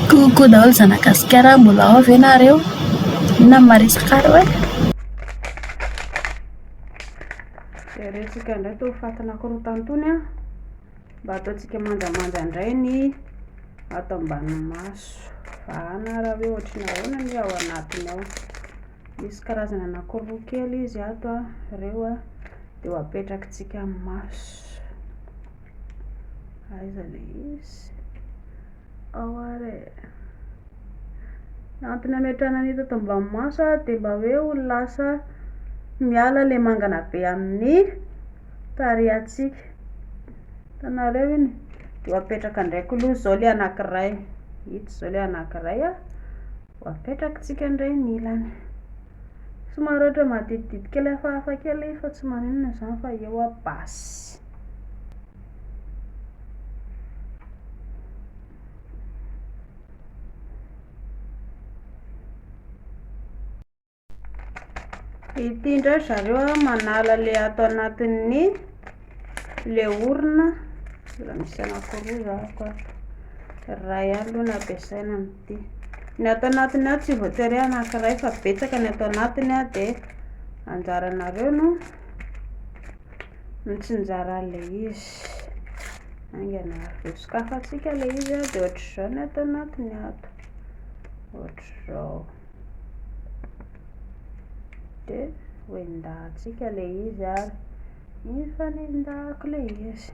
Coucou daholo zanagasikara mbola ao ve nareo? Inona no maresaka arô e? Jeretsika indray itony fatina korontana itony an! Mba ataontsika manjamanja indray ny ato ambany maso. Vahana raha hoe ohatry ny ahoana ny ao anatiny ao. Misy karazana anankiroa kely izy ato an, ireo an, dia ho apetrakitsika amin'ny maso. Aiza le izy? Ao ary e. Antony hametrahana ny hita tao maso ary dia mba hoe ho lasa miala ilay mangana be amin'ny tarehantsika. Hitanareo iny? Dia ho apetraka ndraiky aloha izao ilay anankiray. Ito izao ilay anankiray a. Ho apetrakitsika indray ny ilany. Somary ohatra maditidity kely hafahafa kely fa tsy maninona izany fa eo a basy. ity indray zareo a manala le ato anatin'ny le orina mbola misy anankiroa zako ray ihany aloha no ampiasaina amin'ity ny ato anatiny ao tsy voatery anankiray fa betsaka ny ato anatiny a dia anjaranareo no mitsinjaran'ilay izy. Haingana avy eo. Sokafantsika ilay izy dia ohatr'izao ny ato anatiny ato. Ohatr'izao. Dia hoendahantsika ilay izy ary mifanendako ilay izy.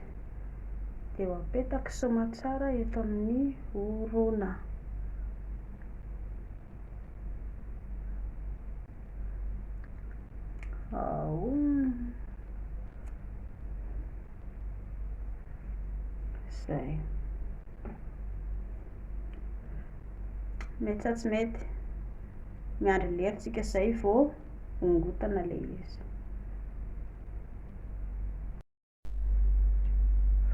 Dia ho apetaka somatsara eto amin'ny orona. Zay. Mety sa tsy mety? Miandry lera tsika zay vao hongotana le izy.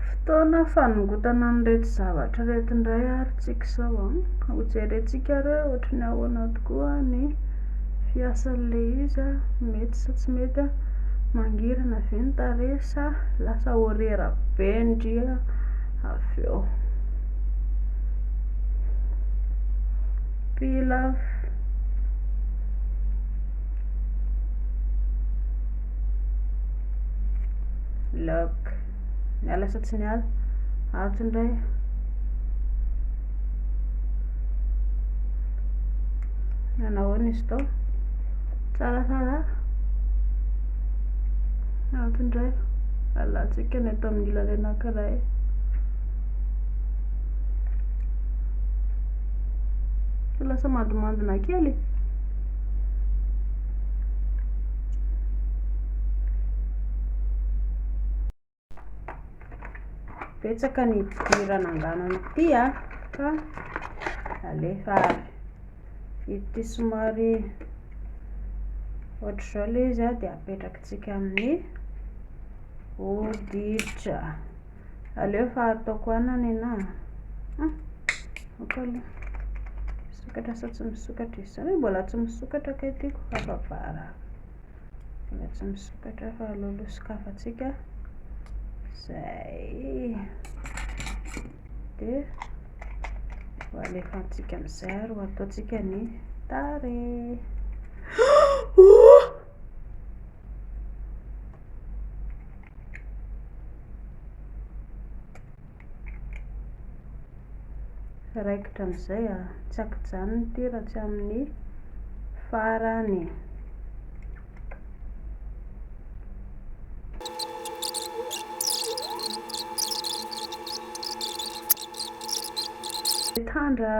Fotoana fanongotana an'ireto zavatra ireto indray ary tsika izao an. Hojerentsika re ohatry ny ahoana tokoa ny fiasan'ilay izy, mety sa tsy mety, mangirana ve ny tarehy sa lasa orera be ndry avy eo. Pilaf. lock miala sa tsy miala ato indray nanahoana izy tao tsaratsara ato indray alantsika ny ato amin'ny ilany anankiray lasa mandimandina kely Betsaka ny idiran' angano amin'ity a, fa alefa avy. Ity somary ohatr'izao ilay izy a, dia apetrakintsika amin'ny hoditra. Aleo fa ataoko ana nenah a! ok aloha misokatra sa tsy misokatra izy zany mbola tsy misokatra kay tiako hafa vara mbola tsy misokatra fa aloaloha sokafantsika zay dia ho alefantsika amin'izay ary ho ataontsika ny tarehy raikitra amin'izay a, tsy ankijanona ity raha tsy amin'ny farany. Mitandra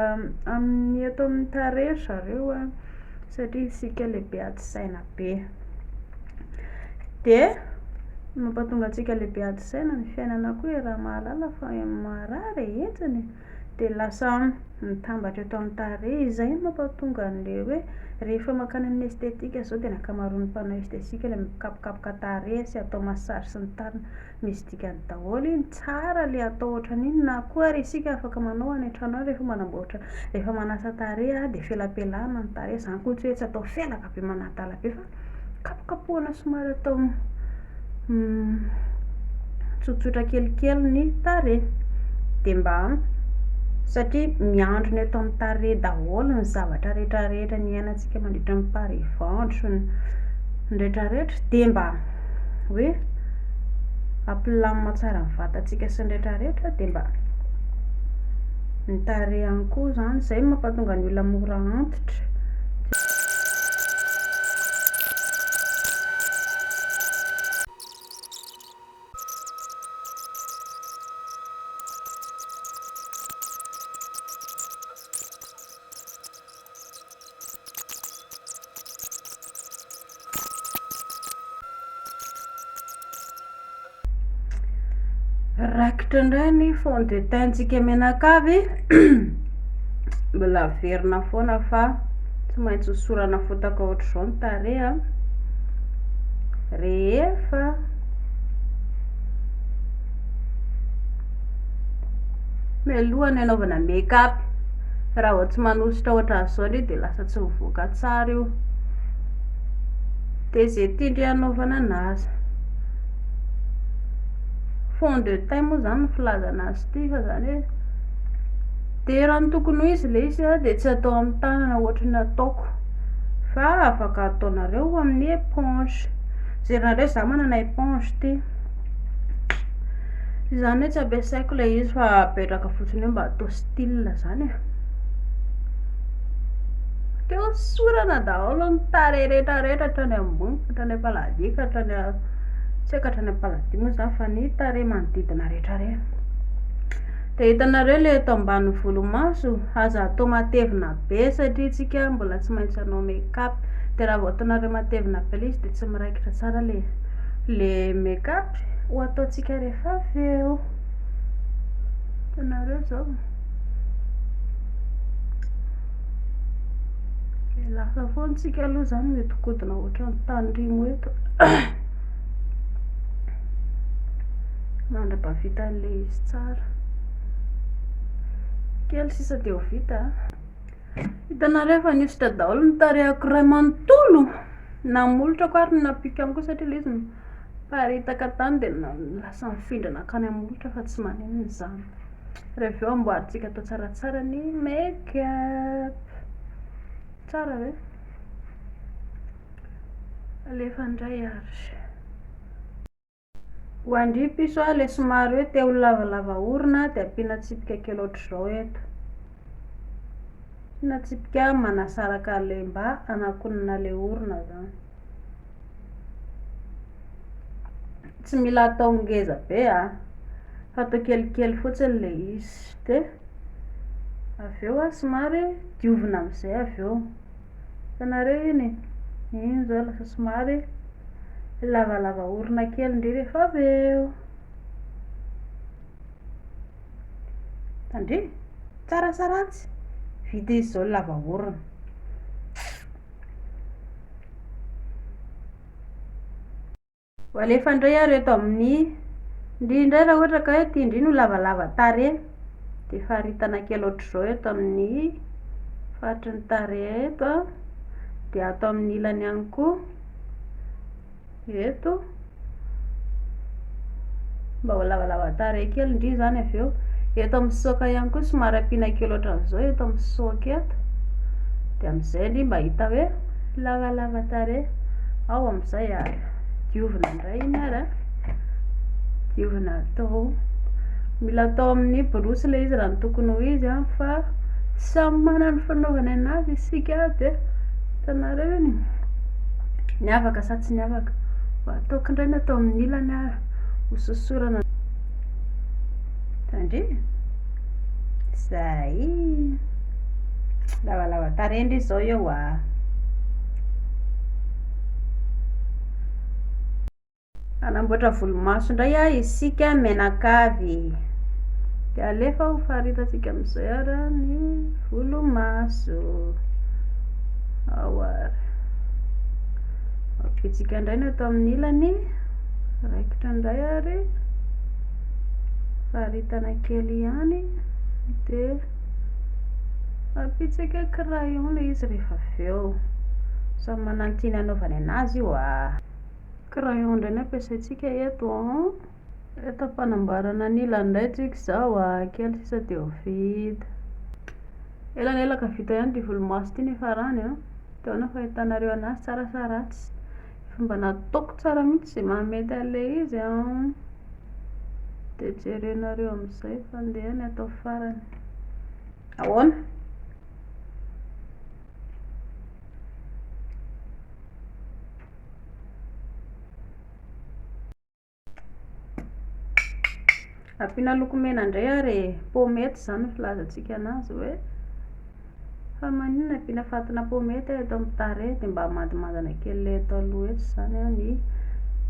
amin'ny ato amin'ny tarehy ry zareo a. satria isika lehibe ady saina be. Dia mampatonga antsika lehibe ady saina ny fiainana koa e, raha mahalala fa marary e, hetsiny e. Dia lasa mitambatra eto amin'ny tarehy, izay no mampatonga an'ilay hoe rehefa mankany amin'ny esthétique izao dia ny ankamaroan'ny mpanao esthétique ilay mikapokapoka tarehy sy atao massage sy ny tariny. Misy dikany daholo iny, tsara le atao ohatran'iny, na koa ary isika afaka manao any an-trano any rehefa manamboatra, rehefa manasa tarehy aho dia felapelahana ny tarehy, zany koa tsy hoe tsy atao felaka be manadala be fa kapokapohana somary atao tsotsotra kelikely ny tarehy, dia mba satria miandry ny eto amin'ny tarehy daholo ny zavatra rehetrarehetra niainantsika mandritra ny pari-ventro, ny retraretra dia mba. hoe hampilamina tsara ny vatantsika sy ny rehetra rehetra dia mba ny tarehy ihany koa izany, izay no mampahatonga ny olona mora antitra, Rakitra indray ny fond de teint-tsika menakavy mbola averina foana fa tsy maintsy hosorana fotaka ohatr'izao ny tareha rehefa Mialoha ny hanaovana make up, raha vao tsy manosotra ohatran'izao anie dia lasa tsy mivoaka tsara io, dia izay tian-dry hanaovana an'azy, fond de teint moa izany no filazana azy ity fa izany hoe, dia raha ny tokony ho izy ilay izy an dia tsy atao amin'ny tanana ohatry ny ataoko fa afaka ataonareo amin'ny éponge, jereo zah manana éponge ity. Izany hoe tsy ampiasaiko ilay izy fa apetraka fotsiny eo mba atao style izany e. Te hosorana daholo ny tarehy rehetra rehetra hatrany ambony ka hatrany am-paladia ka hatrany tsy haiko hatrany am-paladia moa izany fa ny tarehy manodidina rehetra rehetra. Dia hitanareo ilay eto ambany volomaso, aza atao matevina be satria isika mbola tsy maintsy hanao make up, dia raha vao ataonareo matevina be ilay izy dia tsy miraikitra tsara ilay izy. Le make up ho ataontsika rehefa avy eo. Hitanareo zao. Dia lasa foana tsika aloha zany mihodinkodina ohatran'ny tanirimo eto. Mandra-bavita an'ilay izy tsara. Kely sisa dia ho vita. Hitanareo fa nihosotra daholo ny tarehako iray manontolo! Na molotra ko ary ny napiko ihany koa satria ilay izy niparitaka tany dia lasa nifindra nankany amin'ny molotra fa tsy maninona izany. Raha avy eo amboarintsika atao tsaratsara ny make up. Tsara ve? Alefa indray ary. Ho andry piso a, le somary hoe te ho lavalava orona de ampiana tsipika kely ohatr'izao eto. Ampiana tsipika manasaraka an'le mba hanakonana le orona zany. Tsy mila atao ngeza be a, fa atao kelikely fotsiny le izy de avy eo a somary diovina am'zay avy eo. Hitanareo iny e, iny izao lasa somary lavalava orona kely indray rehefa avy eo. Tandremo, tsara sa ratsy? Vita izy izao lava orona. Ho alefa indray ary eto amin'ny Ndry indray raha ohatra ka hoe tia ndry no lavalava tarehy dia faritana kely ohatr'izao eto amin'ny faritry ny tarehy eto an, dia ato amin'ny ilany ihany koa eto. Mba ho lavalava tarehy kely ndry izany avy eo. Eto amin'ny sisoka ihany koa somary ampiana kely ohatran'izao eto amin'ny sisoka eto. Dia amin'izay ndry mba hita hoe lavalava tarehy. Ao amin'izay ary diovina indray iny ary an. Diovina atao. Mila atao amin'ny borosy ilay izy raha ny tokony ho izy an fa samy manana ny fanaovany anazy isika dia hitanareo iny. Ny afaka sa tsy ny afaka. Mba ataoko indray ny atao amin'ny ilany ary. hososorana ny tandremo zay lavalava tarehy ndry zao eo a hanamboatra volomaso indray a isika menakavy de alefa ho faritantsika amizay ara ny volomaso ao ary ampitsika indray ny ato amin'ny ilany Raikitra indray ary faritana kely ihany dia ampitsika crayon ilay izy rehefa avy eo. Samy manana ny tiany hanaovany an'azy io a. Crayon indray no ampiasaintsika eto an. Eto am-panamboarana ny ilany indray tsika izao a, kely sisa dia ho vita. Elanelaka vita ihany ity volomaso ity nefa rany an. Dia ahoana ny fahitanareo an'azy, tsara sa ratsy? Fomba nataoko tsara mihitsy izay maha mety an'ilay izy an! Dia jerenareo amin'izay fa ndeha ny atao farany. Ahoana? Ampiana loko mena indray ary e. Pomety izany no filazantsika anazy hoe fa maninona ampiana fatina pomety eto amin'ny tarehy dia mba hamandimandina kely ilay eto aloha eto izany an ny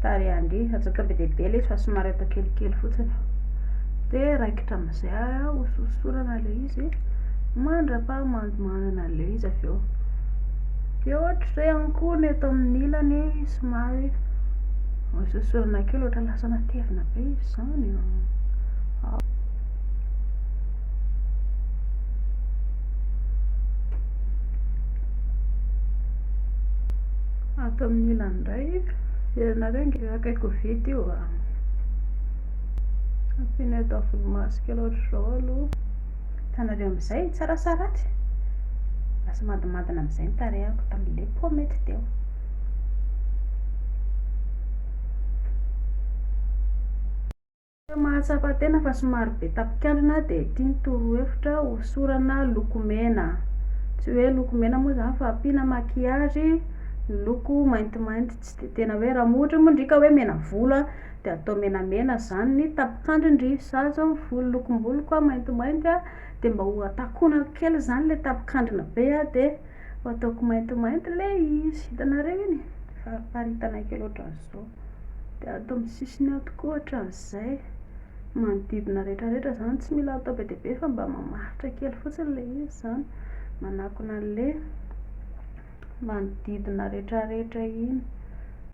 tarehin-dry. Atsoaka be dia be ilay izy fa somary atao kelikely fotsiny. Dia raikitra amin'izay ary an hososorana ilay izy mandrapahamandimandina ilay izy avy eo. Dia ohatr'izay ihany koa ny eto amin'ny ilany somary. Ohatr'izao sorona kely ohatra lasa matevina be izy izany a. Ato amin'ny ilany indray, hitanareo ange io akaiky ho vita io a. Ampiana eto amin'ny volomaso kely ohatr'izao aloha. Hitanareo amin'izay tsara saratsy? Lasa madimandina amin'izay ny tarehiko, tamin'ilay paomy mety teo. Ireo mahatsapa tena fa somary be tapikandrina dia ity ny torohevitra, hosorana lokomena. Tsy hoe lokomena moa izany fa ampiana maquillage miloko maintimainty, tsy dia tena hoe, raha ohatra moa ndry ka hoe mena volo a, dia atao menamena izany ny tapikandriny ndry, za izao ny volo lokom-boloko a maintimainty a, dia mba ho takonako kely izany ilay tapikandrina be a dia. Ho ataoko maintimainty ilay izy. Hitanareo iny? Fariparitana kely ohatran'izao. Dia ato amin'ny sisiny ato koa ohatran'izay. Manodidina rehetrarehetra izany, tsy mila atao be dia be fa mba mamaritra kely fotsiny ilay izy izany. Manakona an'ilay manodidina rehetrarehetra iny.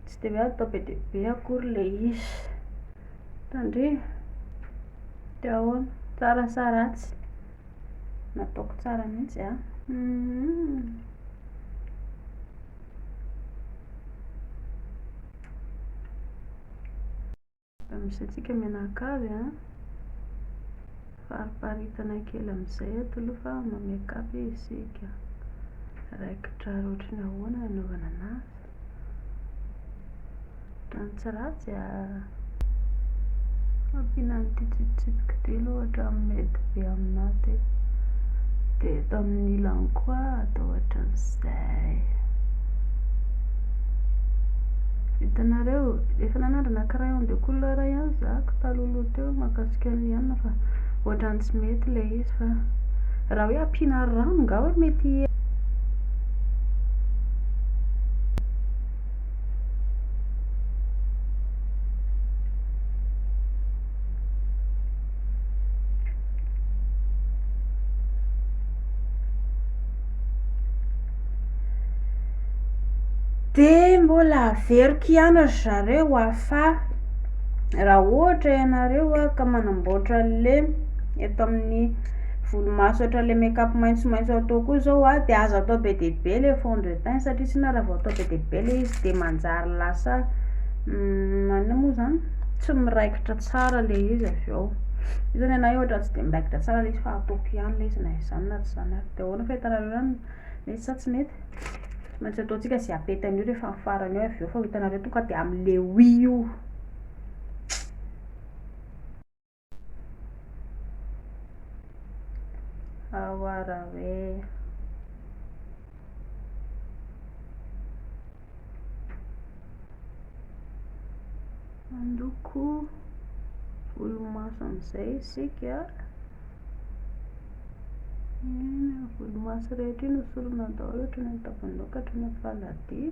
Tsy dia hoe atao be dia be akory ilay izy. Tandremo. Dia ahoana? Tsara sa ratsy? Nataoko tsara mihitsy an! Mba misy antsika mianakavy an! Fariparitana kely amin'izay eto aloha fa ma-make up isika. Raikitra ary ohatry ny ahoana ny hanaovana anazy. Tany tsy ratsy a. Ampiana an'ity tsipitsipika ity aloha ohatra amin'ny mety be aminà ity. Dia eto amin'ny ilany koa atao ohatran'izay. Vitanareo, efa nanandrana crayon de couleur ihany za talohaloha teo mahakasika ny anona fa ohatran'ny tsy mety ilay izy fa raha hoe ampiana rano nga hoe mety Dia mbola averiko ihany ry zareo a fa raha ohatra ianareo ka manamboatra lem eto amin'ny Volomaso ohatra le make up maintsomaintso atao koa zao a de aza atao be dia be le fond de teint satria tsy na raha vao atao be dia be le izy de manjary lasa maninona moa zany tsy miraikitra tsara le izy avy eo io zany anah ohatra tsy de miraikitra tsara le izy fa ataoko ihany le izy na izany na tsy izany ary de ahoana fahitanareo zany mety sa tsy mety tsy maintsy ataontsika ze apety an'io rehefa amin'ny farany eo avy eo fa ho hitanareo tonga de amin'ny le oui io. Hawarawee. Mandoko volomaso amin'izay isika. Eny, volomaso rehetra iny hosorana daholo, hatrany amin'ny tampon-doha ka hatrany amin'ny faladia.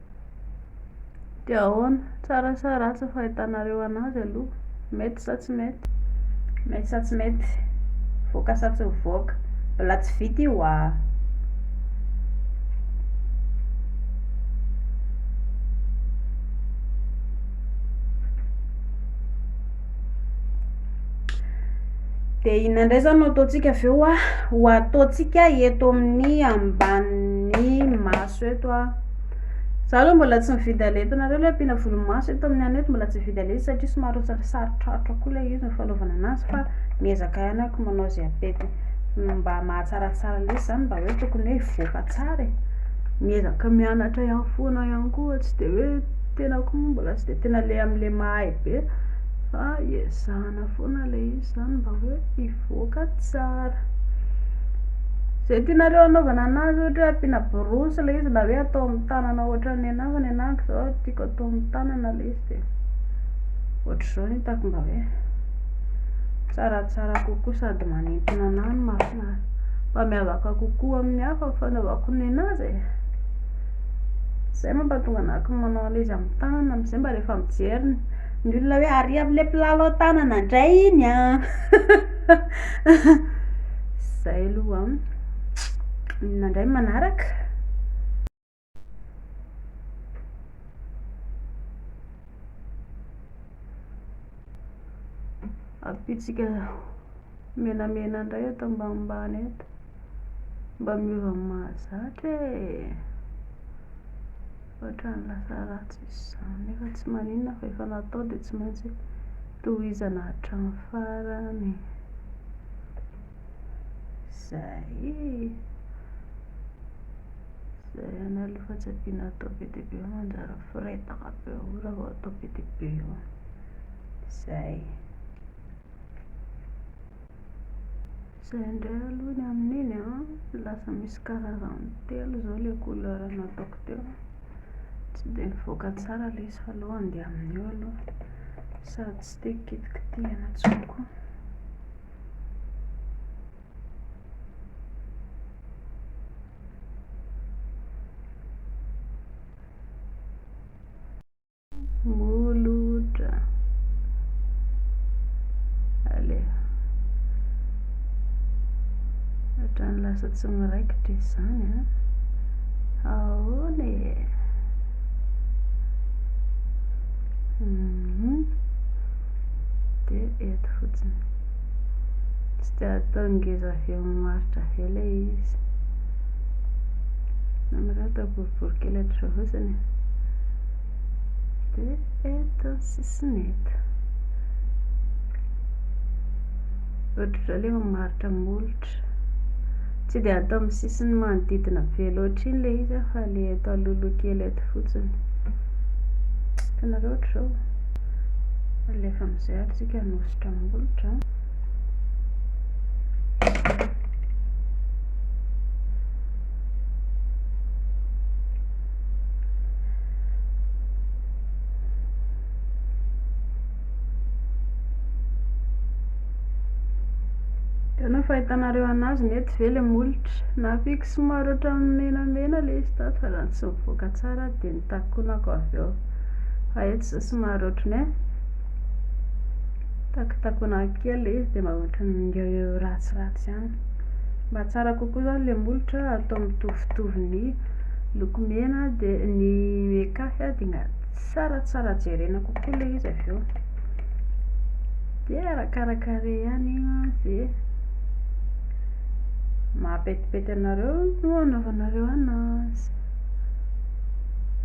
Dia ahoana? Tsara sa ratsy ny fahitanareo anazy aloha? Mety sa tsy mety? Mety sa tsy mety? Voaka sa tsy mivoaka? Mbola tsy vita io aa! Dia inona indray izany no ataontsika avy eo ah? Ho ataontsika eto amin'ny ambanin'ny maso eto ah. Za aloha mbola tsy mividy ale hitanareo ilay ampiana volomaso eto amin'ny anay eto mbola tsy mividy ale satria somary sarotrarotra koa ilay izy ny fanaovana an'azy fa miezaka ihany ako manao izay ampetin mba mahatsaratsara lesy izany mba hoe tokony hoe hivoaka tsara e. Miezaka mianatra ihany foana ihany koa tsy dia hoe. Tenako moa mbola tsy dia tena le amin'ilay mahay be fa ezahana foana ilay izy izany mba hoe hivoaka tsara. Izay tianareo hanaovana an'azy ohatra hoe ampiana borosy ilay izy na hoe atao amin'ny tanana ohatran'ny anah fa ny anah manko izao tiako atao amin'ny tanana ilay izy dia ohatr'izao no hitako mba hoe tsaratsara kokoa sady manintona anah no mahafinaritra mba miavaka kokoa amin'ny hafa ny fanaovako ny an'azy e. Zay mampatonga anah ko manao an'le izy amin'ny tanana amin'izay mba rehefa mijery ny olona hoe ary amin'le mpilalao tanana indray iny an! Zay aloha an! Inona indray ny manaraka? Ampitsika menamena indray eto ambanimbany eto. Mba miova mahazatra e! Ohatran'ny lasa ratsy izany nefa tsy maninona fa efa natao dia tsy maintsy tohizana hatramin'ny farany. Izay e! Izay ihany aloha fa tsy ampiana atao be dia be fa manjary miforetaka be eo raha vao atao be dia be eo. Izay. Izay indray aloha ny amin'iny an, lasa misy karazany telo izao ilay couleur nataoko teo, tsy dia nivoaka tsara ilay izy fa aleo handeha amin'io aloha, sady tsy te hikitikitihina intsony koa. Molotra. Aleha. Ohatrany lasa tsy miraikitra izany an. Ahoana e? Mhm. Dia eto fotsiny. Tsy dia atao ngeza avy eo amin'ny maritra ve ilay izy? Namirao atao boribory kely hatr'izao fotsiny e. Dia eto ny sisiny eto. Ohatr'izao ilay mamaritra molotra. Tsy dia atao amin'ny sisiny manodidina be loatra iny ilay izy fa ilay eto alolo kely eto fotsiny. Hitanareo ohatr'izao. Alefa amin'izay ary tsika hanosotra molotra. Ianao fahitanareo anazy nety ve le molotra? Nahafiky somary ohatran'ny menamena le izy tato fa raha tsy mivoaka tsara aho dia nitakonako avy eo. Fa eto izao somary ohatran'ny hoe takitakonako kely le izy dia mba ohatran'ny ngeo ngeo ratsiratsy ihany. Mba tsara kokoa izany le molotra atao mitovitovy ny. Loko mena dia ny mekafy dia tsaratsara jerena kokoa ilay izy avy eo. Dia arakaraka rey ihany izay mahapetipety anareo no anaovanareo anazy.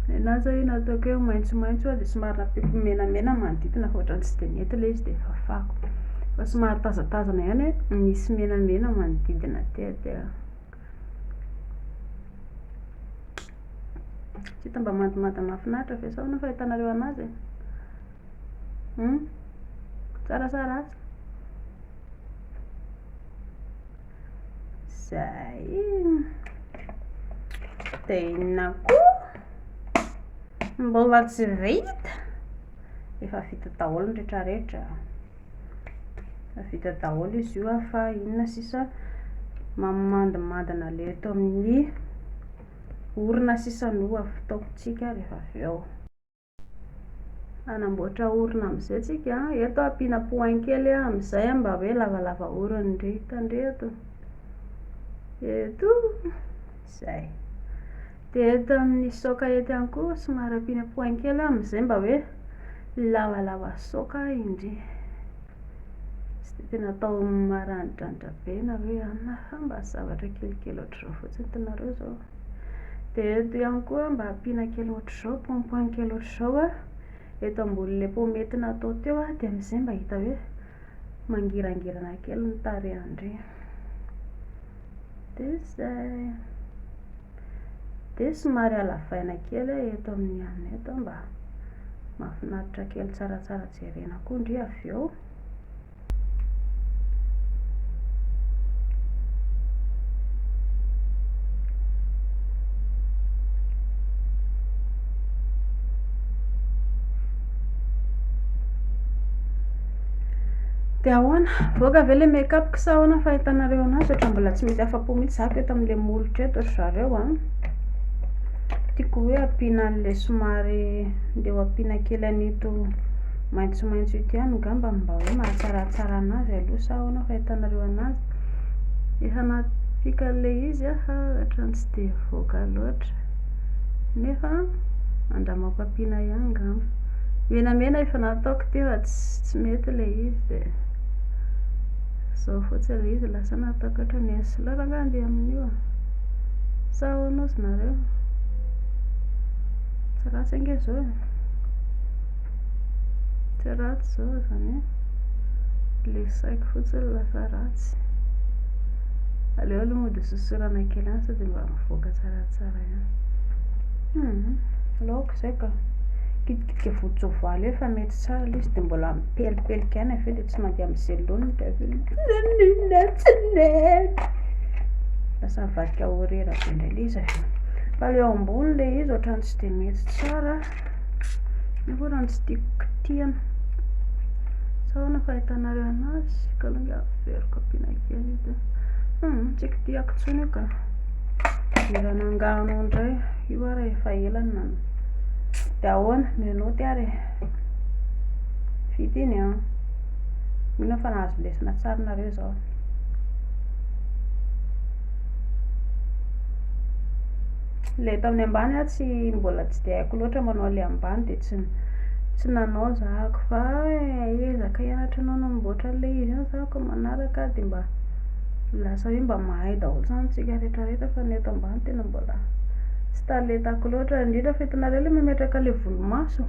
Ny anahy izao io nataoko hoe maitsomaitso dia somary nampiako menamena ny manodidina fa ohatran'ny tsy dia nety ilay izy dia fafako. Fa somary tazatazana ihany hoe misy menamena manodidina aty dia. Tsy hita mba mandomando mahafinaritra ve zao no fahitanareo anazy e? Hum? Tsara sa ratsy? Zay! Dia inona koa? Mbola tsy vita? Efa vita daholo ny rehetrarehetra. Vita daholo izy io ah, fa inona sisa mamandimandina le eto amin'ny orona sisa no ataontsika rehefa avy eo. Hanamboatra orona amin'izay tsika an, eto ampiana point kely an, amin'izay an mba hoe lavalava orona ndry, tandremo eto, zay. Dia eto amin'ny soka eto ihany koa somary ampiana points kely amin'izay mba hoe lavalava soka indry. Tsy dia tena atao maranidranitra be na hoe anona fa mba zavatra kelikely ohatr'izao fotsiny hitanareo izao. Dia eto ihany koa mba ampiana kely ohatr'izao point point kely ohatr'izao eto ambonin'ilay pomety natao teo dia amin'izay mba hita hoe mangirangirana kely ny tarehin-dry. Dia izay. Dia somary halavaina kely aho eto amin'ny anona eto mba mahafinaritra kely tsaratsara jerena koa ndry avy eo. Dia ahoana? Mivoaka ve ilay make up-ko sa ahoana ny fahitanareo an'azy? Ohatra mbola tsy mety afa-po mihitsy za ko eto amin'ilay molotra eto ry zareo an! Tiako hoe ampiana an'ilay somary ndeha ho ampiana kely an'ito maitsomaitso ito ihany angamba mba hoe mahatsaratsara an'azy aloha sa ahoana ny fahitanareo an'azy? Dia hanapika an'ilay izy aho ohatran'ny tsy dia mivoaka loatra nefa andramako ampiana ihany angamba. Menamena efa nataoko teo fa tsy mety ilay izy dia izao fotsiny ilay izy lasa nataoko ohatran'ny eny sy laona angaha andeha amin'io a! sa ahoana ozy nareo? tsy ratsy ange izao e! tsy ratsy izao izany hoe ilay saiko fotsiny no lasa ratsy, aleo aloha mody hososorana kely ihany sao dia mba mivoaka tsaratsara ihany, humm laoka. Zay ka. Kitikitika voan-tsoavaly eo fa mety tsara ilay izy dia mbola mipelipelika ihany avy eo dia tsy mandeha amin'ny zelony dia avy eo nanina tsy nety. Lasa nivadika ho rera be indray ilay izy avy eo. Fa ilay ao ambony ilay izy ohatrany tsy dia mety tsara. Nefa ohatrany tsy tiako kitihana. Sa ahoana ny fahitanareo anazy? Ka aloha ingahy averiko ampiana kely io dia. Hum, tsy kitihako intsony io ka. Dia raha nangano indray. Io ary efa ela no nanao. Dia ahoana? Menottes ary e! Vita iny an! Mino aho fa nahazo lesona tsara nareo izao. Ilay eto amin'ny ambany aho tsy mbola tsy dia haiko loatra manao ilay ambany dia tsy tsy nanao zahako fa ezaka hianatra anao namboatra an'ilay izy iny zahako manaraka dia mba lasa hoe mba mahay daholo izany isika rehetra rehetra fa ny eto ambany tena Tsy talentako loatra, indrindra fa hitanareo ilay mametraka ilay volomaso,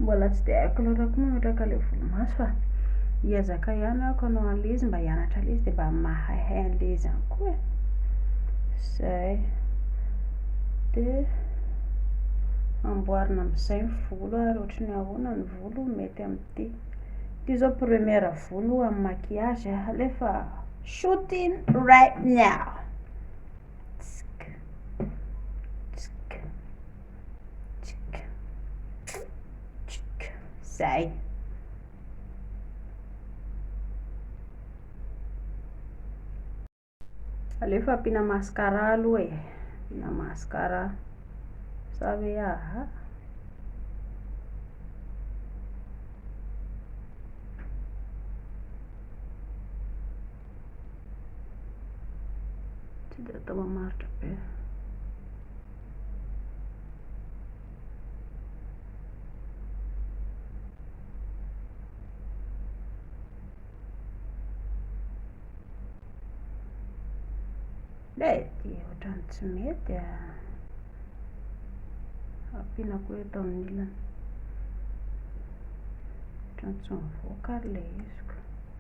mbola tsy dia haiko loatra koa mametraka ilay volomaso fa hiezaka ihany aho hanao an'ilay izy mba hianatra an'ilay izy dia mba mahaihay an'ilay izy ihany koa e, izay, dia amboarina amin'izay ny volo ary ohatran'ny hoe ahoana ny volo mety amin'ity, ity izao première volo amin'ny maquillage alefa shooting right now. Zay. Aleo fa ampiana mascara aloha e. Ampiana mascara. Sa hoe aha. Tsy dia atao mamaritra be. Lay ty ohatran'ny tsy mety a. Ah. Ampiana koa eto amin'ny ilany. Ohatran'ny tsy mivoaka ary ilay izy.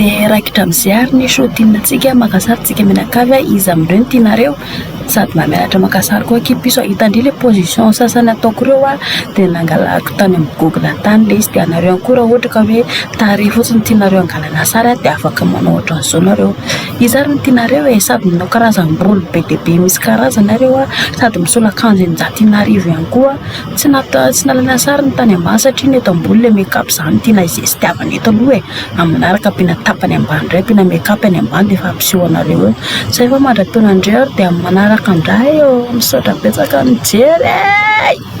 dia raikitra amin'izay ary ny show tiantsika mankasary tsika mianakavy a iza amin'ireo no tianareo sady mba mianatra mankasary koa akia piso a hitandria le position sasany ataoko ireo a dia nangalako tany amin'ny google tany le izy dia anareo ihany koa raha ohatra ka hoe tarehy fotsiny tianareo hangalana sary a dia afaka manao ohatran'izao nareo Iza ary no tianareo e? Sady manao karazam-bolo be dia be misy karazana ary eo a, sady misolo akanjo eninjato ina arivo ihany koa. Tsy nata, tsy nalaina sary ny tany ambany satria ny eto ambony ilay make up izany no tiana izestiavana eto aloha e. Amin'ny manaraka ampiana tapany ambany indray, ampiana make up ny ambany dia efa ampiseho anareo eo. Izay fa mandra-peo anareo ary dia amin'ny manaraka indray ô. Misaotra betsaka nijery e!